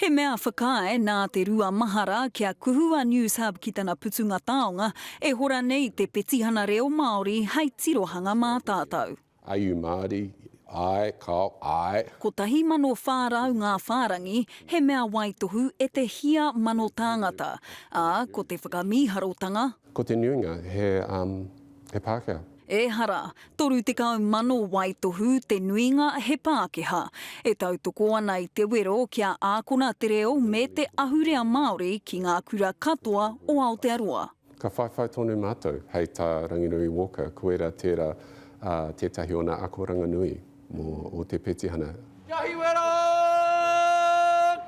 He mea whakaae nā te rua mahara kia kuhu a Newshub ki tana putunga taonga e hora nei te petihana reo Māori hei tirohanga mā tātou. Are you Māori? Āe, kāo, āe. 1,400 ngā whārangi, he mea waitohu e te hia mano tāngata, ā, ko te whakamīharotanga, Ko te nuinga, he, um. he Pākehā. Ehara, 30,000 waitohu te nuinga he Pākehā. E tautoko ana i te wero kia ākona te reo me te ahurea Māori ki ngā kura katoa o Aotearoa. Ka whaiwhai tonu mātou, hei tā Ranginui Walker, koira tērā tētahi o nā akoranga nui. Mō o te petihana. Kia hiwe ra!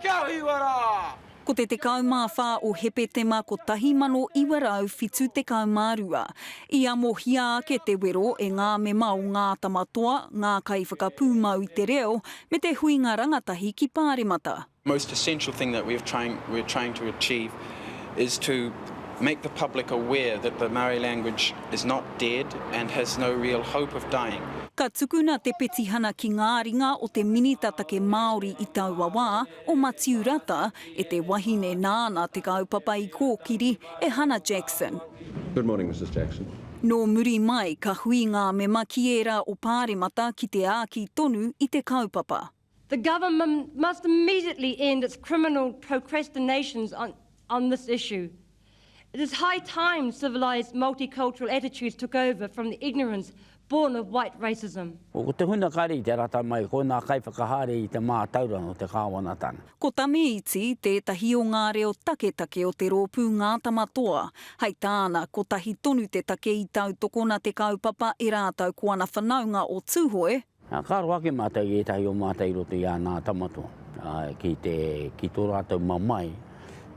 Kia hiwe ra! Ko te 14 o Hepetema 1972, i amohia ake te wero e ngā mema o Ngā Tamatoa, ngā kaiwhakapūmau i te reo, me te huinga rangatahi ki Pāremata. most essential thing that we're trying we're trying to achieve is to make the public aware that the Maori language is not dead and has no real hope of dying. Ka tukuna te petihana ki ngā ringa o te Minita Take Māori i taua wā, o Matiu Rata, e te wahine nāna te kaupapa i kōkiri, e Hana Jackson. Good morning, Mrs Jackson. Nō muri mai, ka hui ngā mema ki ērā o Pāremata ki te āki tonu i te kaupapa. The government must immediately end its criminal procrastinations on on this issue. It is high time civilised multicultural attitudes took over from the ignorance born of white racism. Ko te huna kare i te rata mai, ko nā kaiwhakahaere i te mātauranga o te kāwanatanga. Ko Tamiiti tētahi o ngā reo taketake o te rōpū Ngā Tama Toa. Hei tāna, kotahi tonu te take i tautokona te kaupapa e rātou ko ana whanaunga o Tūhoe, Ka aro ake mātou i ētahi o mātou i roto i āna tamatoa, āe, ki te, ki tō rātou mamae,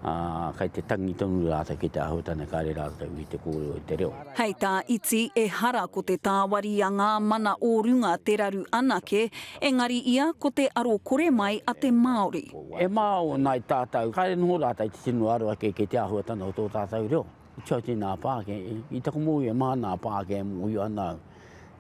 ā, kei te tangi tonu rātou ki te āhuatanga kāre rātou i te kōrero i te reo. Hei tā Iti, ehara ko te tāwari a ngā mana o runga te raru anake, engari ia ko te aro kore mai a te Māori. E māo ana i tātou, kāre noho rātou te tino aro ake ki te āhuatanga o tō tātou reo. I tau tēnā pāke, i taku mōhio e maha ana ngā pāke e mōhio ana au,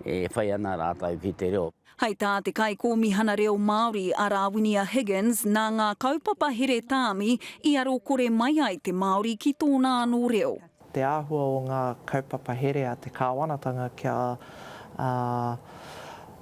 e whai ana rātou ki te reo. Hai tā te Kaikōmihana Reo Māori a Rāwinia Higgins, nā ngā kaupapa here tāmi i aro kore mai ai te Māori ki tōna anō reo. Te āhua o ngā kaupapa here a te kāwanatanga kia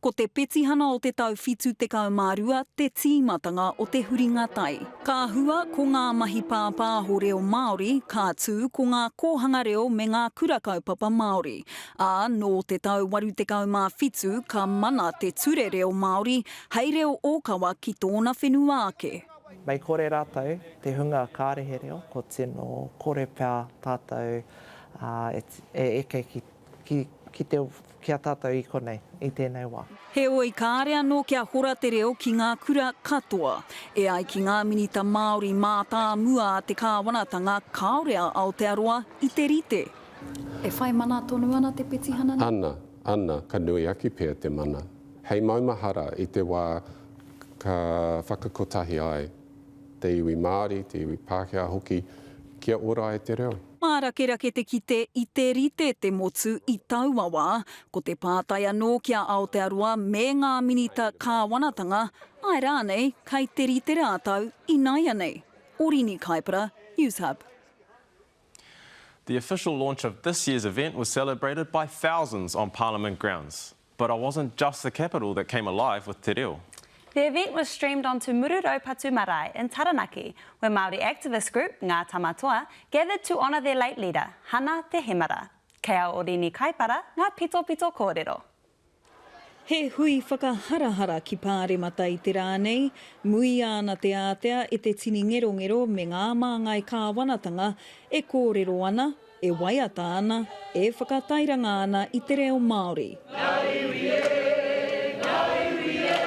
Ko te petihana o te tau 72 te tīmatanga o te huringa tai. Ka hua, ko ngā mahi pāpāho reo Māori, ka tū, ko ngā kōhanga reo me ngā kura kaupapa Māori. Ā, nō te tau 87 ka mana te Ture Reo Māori hei reo ōkawa ki tōna whenua ake. Mei kore rātou te hunga kārehe reo, ko tino kore pea tātou e eke ki. ki a tātou i konei, i tēnei wā. Heoi, kāre anō kia hora te reo ki ngā kura katoa. E ai ki ngā minita Māori mātāmua a te kāwanatanga, kāore a Aotearoa i te rite. E whai mana tonu ana te petihana nei? Ana, ana, ka nui ake pea te mana. Hei maumahara i te wā ka whakakotahi ai te iwi Māori, te iwi Pākehā hoki, kia ora ai te reo. Mārakerake te kite i te rite te motu i taua wā, ko te pātai anō ki a Aotearoa me ngā Minita Kāwanatanga, āe rānei, kei te rite rātou ināianei? Orini Kaipara, Newshub. The official launch of this year's event was celebrated by thousands on Parliament grounds. But I wasn't just the capital that came alive with te reo. The event was streamed onto Muru-Raupatu Marae in Taranaki, where Māori activist group, Ngā Tama Toa, gathered to honour their late leader, Hana Te Hemara. Kei a Orini Kaipara ngā pitopito kōrero. He hui whakaharahara ki Pāremata i te rā nei, muia ana te ātea e te tini ngerongero me ngā māngai kāwanatanga e kōrero ana, E waiata ana, e whakatairanga ana i te reo Māori. Ngā iwi e, ngā iwi e,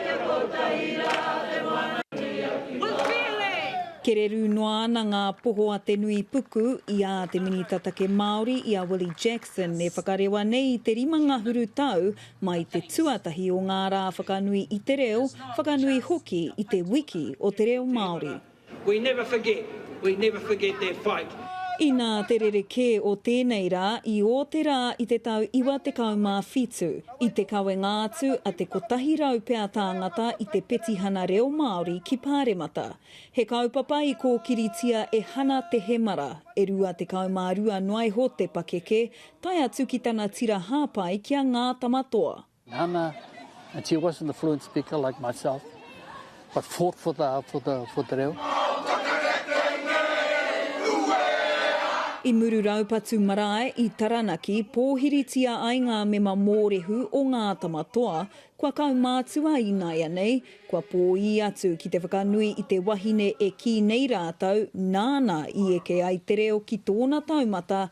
kia kotahi rā te wānanui a Puketapu. Kererū noa ana ngā poho a te nui puku i ā te Minita Take Māori, i a Willie Jackson, e whakarewa nei i te rima ngahuru tau mai te tuatahi o ngā rā whakanui i te reo, whakanui hoki i te wiki o te reo Māori. We never forget, we never forget that fight. Inā te rerekē o tēnei rā i ō te rā i te tau iwa tekau mā whitu, i te kawenga atu a te kotahi rau pea tāngata i te petihana reo Māori ki Pāremata. He kaupapa i kōkiritia e Hana Te Hemara, e rua tekau mā rua noaiho te pakeke, tae atu ki tana tira hāpai ki a Ngā Tamatoa. Nana, and she wasn't a fluent speaker like myself, but fought for the, for the, for the reo. I Muru Raupatu Marae i Taranaki, pōhiritia ai ngā mema mōrehu o Ngā Tamatoa, kua kaumātua ināianei, kua pōī atu ki te whakanui i te wahine e kī nei rātou nāna i eke ai te reo ki tōna taumata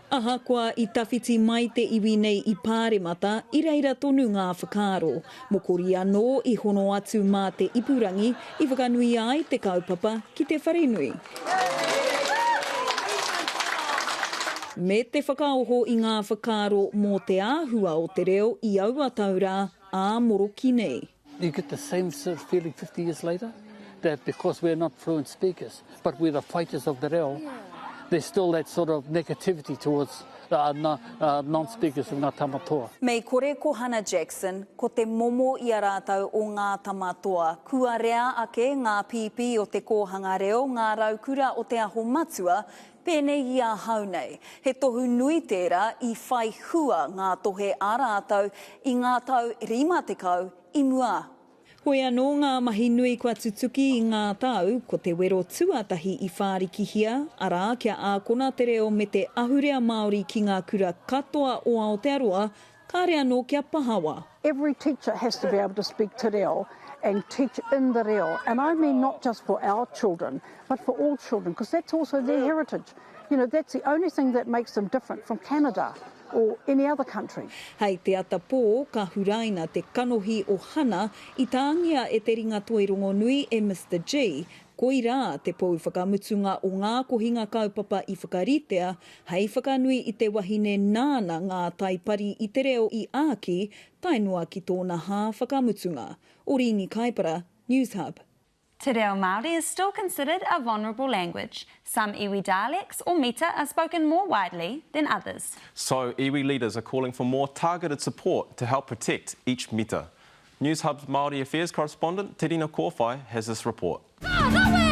Ahakoa i tawhiti mai te iwi nei i Pāremata, i reira tonu ngā whakaaro. Mokori anō i hono atu mā te ipurangi i whakanuia ai te kaupapa ki te wharenui, me te whakaoho i ngā whakaaro mō te āhua o te reo i aua tau rā ā moroki nei. You get the same sort of feeling 50 years later, that because we're not fluent speakers, but we're the fighters of the reo, there's still that sort of negativity towards uh, non, uh, non-speakers of Ngatama Toa. Mei kore ko Hannah Jackson, ko te momo i a rātou o ngā tama toa. Kua rea ake ngā pīpī o te kōhanga reo, ngā raukura o Te Aho Matua, Pēnei i ahau nei, he tohu nui tērā i whai hua ngā tohe a rātou i ngā tau 50 i mua. Hoi anō ngā mahi nui kua tutuki i ngā tau, ko te wero tuatahi i whārikihia, arā, kia ākona te reo me te ahurea Māori ki ngā kura katoa o Aotearoa, Kāre anō kia pahawa. Every teacher has to be able to speak te reo and teach in the reo and I mean not just for our children but for all children because that's also their heritage. You know, that's the only thing that makes them different from Canada or any other country. Hei te ata pō ka huraina te kanohi o Hana i tāngia e te ringatoi rongonui e Mister Gee, Koirā te pou whakamutunga o ngā kohinga kaupapa i whakaritea hei whakanui i te wahine nāna ngā tai pari i te reo i āki tae noa ki tōna hā whakamutunga. Orīni Kaipara, Newshub. Te reo Māori is still considered a vulnerable language. Some iwi dialects or mita are spoken more widely than others. So, iwi leaders are calling for more targeted support to help protect each mita. Newshub's Māori Affairs correspondent, Terina Kōwhai, has this report. Ka rawe!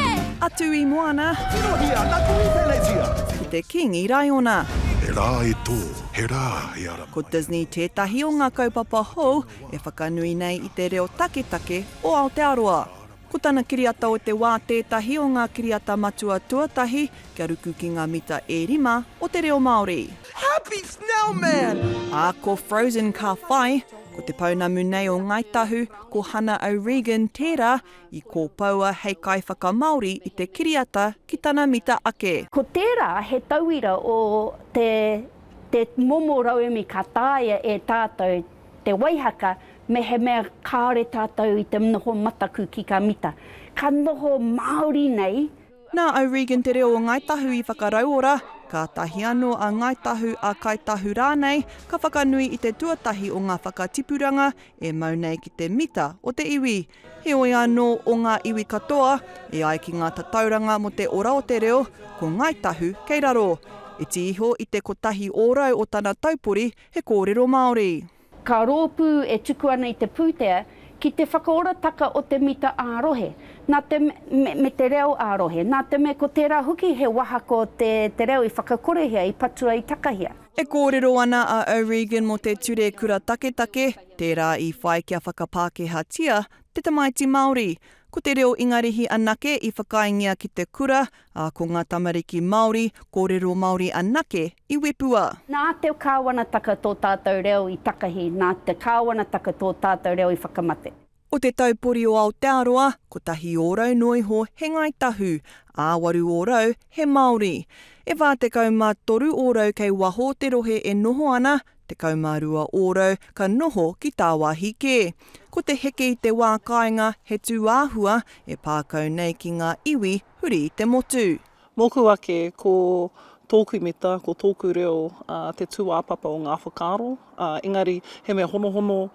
Atu i moana. Tirohia na Tui Pelegia. Ki te King i Raiona. He rā e tō, he rā e ara mai. Ko Disney tētahi o ngā kaupapa hou e whakanui nei i te reo taketake o Aotearoa. Ko tana kiriata o te wā tētahi o ngā kiriata matua tuatahi kia ruku ki ngā mita e rima o te reo Māori. Happy Snowman! Ā, ko Frozen ka whai. Ko te pounamu nei o Ngāi Tahu, ko Hana O'Regan tērā i kōpoua hei kaiwhakamāori i te kiriata ki tana mita ake. Ko tērā he tauira o te momo rauemi ka taea e tātou Te Waihaka, mehemea kāore tātou i te noho mataku ki Kamita, ka noho māori nei. Nā O'Regan te reo o Ngāi Tahu i whakarauora, kātahi anō a Ngāi Tahu, a Kāi Tahu rānei, ka whakanui i te tuatahi o ngā whakatipuranga e mau nei ki te mita o te iwi. Heoi anō, o ngā iwi katoa, e ai ki ngā tatauranga mō te ora o te reo, ko Ngāi Tahu kei raro. Iti iho i te kotahi ōrau o tana taupori, He kōrero Māori. Ka rōpū e tuku ana i te pūtea ki te whakaorataka o te mita ā-rohe, nā te me, me te reo ā-rohe, nā te me ko tērā hoki he wahako te, te reo i whakakorehia, i patua, i takahia. E kōrero ana a O'Regan mō te ture kura taketake, tērā i whai kia whakapākehātia te tamaiti Māori. Ko te reo Ingarihi anake i whakaaengia ki te kura, ā, ko ngā tamariki Māori, kōrero Māori anake i Wepua. Nā te Kāwanataka tō tātou reo i takahi, nā te Kāwanataka tō tātou reo i whakamate. O te taupori o Aotearoa, kotahi ōrau noa iho he Ngāi Tahu, ā, waru ōrau he Māori. E whā tekau mā toru ōrau kei waho o te rohe e noho ana, tekau mā rua ōrau ka noho ki tāwāhi kē. Ko te heke i te wā kāinga he tū āhua e pā kau nei ki ngā iwi huri i te motu. Mōku ake, ko tōku mita, ko tōku reo te tūāpapa o ngā whakaaro, engari he mea honohono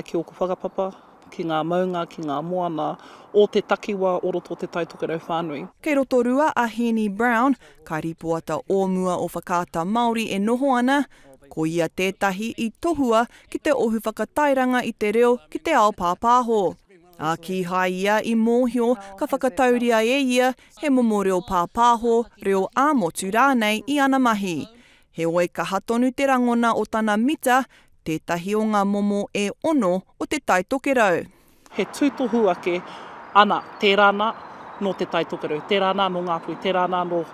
ki ōku whakapapa, ki ngā maunga, ki ngā moana o te takiwā o roto o Te Tai Tokerau whānui. Kei Rotorua a Heeni Brown, ka rīpoata o mua o Whakaata Māori e noho ana, ko ia tētahi i tohua ki te ohu whakatairanga i te reo ki te ao pāpāho. Ā, kīhai ia i mōhio ka whakatauria e ia he momo reo pāpāho, reo ā-motu rānei i ana mahi. Heoi kaha tonu te rangona o tana mita, tētahi o ngā momo e ono o te Tai Tokerau. He tūtohu ake, ana, tērā nā, nō te Tai Tokerau, tērā nā, nō Ngāpuhi, tērā nā, nō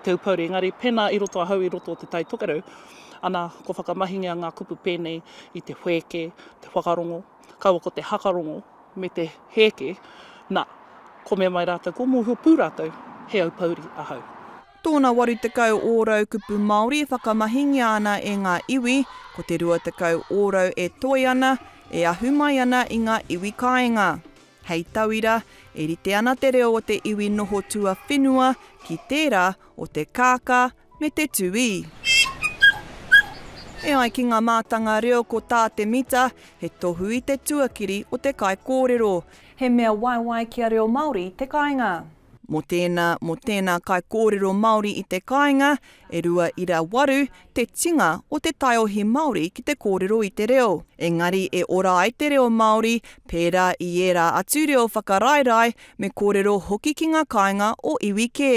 Te Upōuri, engari pēnā i roto ahau i roto o te Tai Tokerau, ana, kua whakamahingia ngā kupu pēnei i te whēke, te whakarongo, kaua ko te hakarongo me te hēke, na, kome mai rātou kua mōhio pū rātou he aupouri ahau. Tōna 80 ōrau kupu Māori e whakamahingia ana e ngā iwi, ko te 20 ōrau e toe ana, e ahu mai ana i ngā iwi kāinga. Hei tauira, e rite ana te reo o te iwi noho tuawhenua ki tērā o te kākā, me te tūī. E ai ki ngā mātanga reo ko tā te mita, he tohu i te tuakiri o te kaikōrero. He mea waiwai kia reo Māori te kāinga. Mō tēnā, mō tēnā kaikōrero Māori i te kāinga, e 2.8 te tinga o te taiohi Māori ki te kōrero i te reo. Engari e ora ai te reo Māori, pērā i ērā atu reo whakaraerae, me kōrero hoki ki ngā kāinga o iwi kē.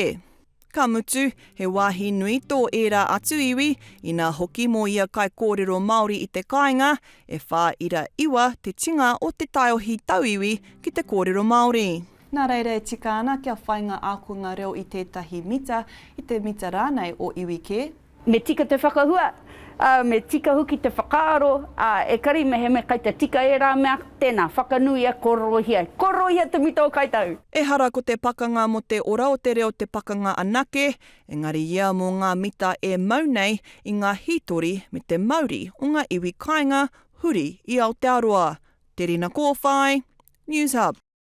Ka mutu, he wāhi nui tō ērā atu iwi, inā hoki mō ia kaikōrero Māori i te kāinga, e whā ira iwa te tinga o te taiohi tauiwi ki te kōrero Māori. Nā reira e tika ana kia whai ngā ākonga reo i tētahi mita, i te mita rānei o iwi kē, Me tika te whakahua, ā, me tika hoki te whakaaro, ā, ekari mehemea kai te tika ērā mea, tēnā, whakanuia, kōrorohia. Kōrorohia te mita o koutou! Ehara ko te pakanga mo te ora o te reo te pakanga anake, engari ia mo nga mita e mau nei i nga hitori me te mauri o nga iwi kainga huri i Aotearoa. Te Rina Kowhai, Newshub.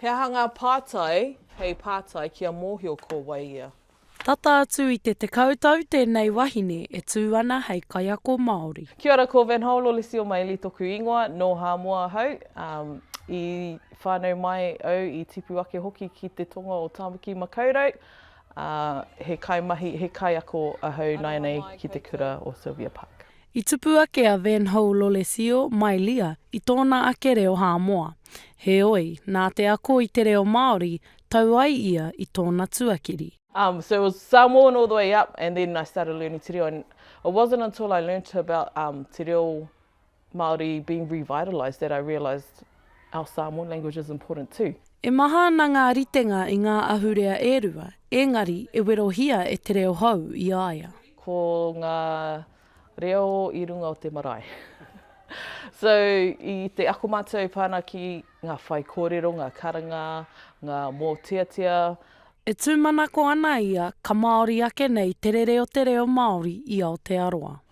He aha ngā pātai hei pātai kia mōhio ko wai ia? Tata atu i te tekau tau tēnei wahine e tū ana hei kaiako Māori. Kia ora ko Van Hole o Lisio Maili toku ingoa, no Hāmoa ahau, i whanau mai au i tipu ake hoki ki te tonga o Tāmaki Makaurau, he kaimahi, he kaiako ahau nainei ki te kura o Sylvia Park. I tupu ake a Van Hou Lolesio mai Lia i tōna ake reo Hāmoa. Heoi, nā te ako i te reo Māori, tau ai ia i tōna tuakiri. Um so it was Samoan all the way up and then I started learning te reo and it wasn't until I learnt about um te reo Māori being revitalised that I realised our Samoan language is important too. E maha ana ngā ritenga i ngā ahurea e rua, ēngari e werohia e te reo hou i a ia. Ko ngā reo i runga o te marae. So, i te ako mātou pana ki ngā whaikōrero, ngā karanga, ngā mōteatea. E tūmanako ana ia ka Māori ake nei te rere o te reo Māori i Aotearoa.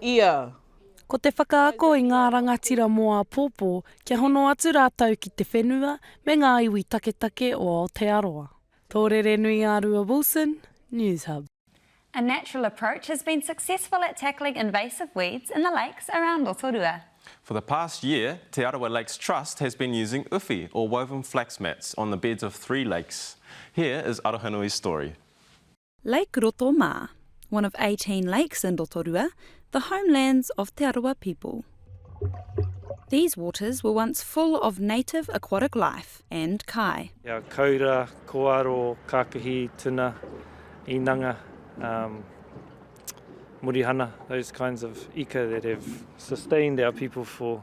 ia. Ko te whakaako i ngā rangatira mō āpōpō kia hono atu rātou ki te whenua me ngā iwi taketake o Aotearoa. Tōrerenuiārua Wilson, Newshub. A natural approach has been successful at tackling invasive weeds in the lakes around Rotorua. For the past year, Te Arawa Lakes Trust has been using uwhi or woven flax mats on the beds of three lakes. Here is Arohanui's story. Lake Roto mā, one of eighteen lakes in Rotorua, the homelands of Te Arawa people. These waters were once full of native aquatic life and kai. Ia kaura, koaro, kākahi, tuna, inanga, um, murihana, those kinds of ika that have sustained our people for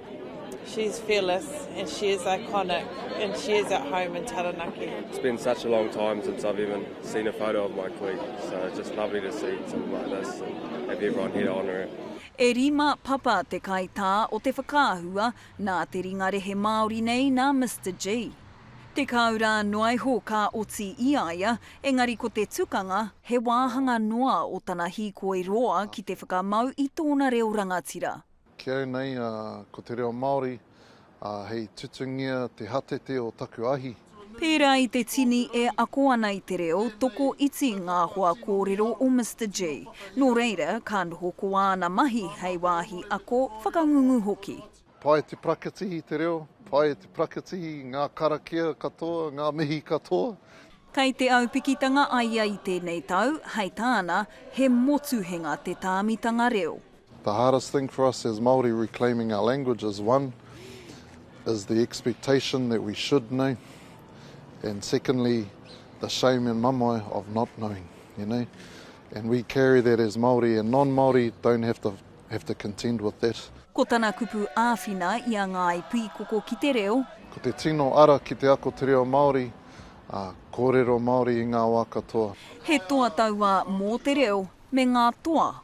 She is fearless and she is iconic and she is at home in Taranaki. It's been such a long time since I've even seen a photo of my queen, so it's just lovely to see something like this and have everyone here to honour her. E rima papa te kaitā o te whakaahua nā te ringa rehe Māori nei nā Mister Gee. Tekau rā noa iho ka oti i a ia, engari ko te tukanga, he wāhanga noa o tana hīkoi roa ki te whakamau i tōna reo rangatira. Ki au nei, ko te reo Māori, hei tutungia te hatete o taku ahi. Pērā i te tini e ako ana i te reo, toko iti ngā hoa kōrero o Mister Gee. Nō reira, ka noho ko āna mahi hei wāhi ako, whakangungu hoki. Pai te prakitihi te reo, pai te prakitihi ngā karakia katoa, ngā mihi katoa. Kei te aupikitanga a ia i tēnei tau, hei tāna, he motuhenga te tāmitanga reo. The hardest thing for us as Māori reclaiming our language is one is the expectation that we should know and secondly the shame and mamae of not knowing, you know. And we carry that as Māori and non-Māori don't have to have to contend with that. Ko tana kupu āwhina i a Ngāi Pīkoko ki te reo. Ko te tino ara ki te ako te reo Māori, ā, kōrero Māori i ngā wā katoa. He toa tauā mō te reo me ngā toa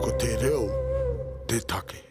Ko te reo te take.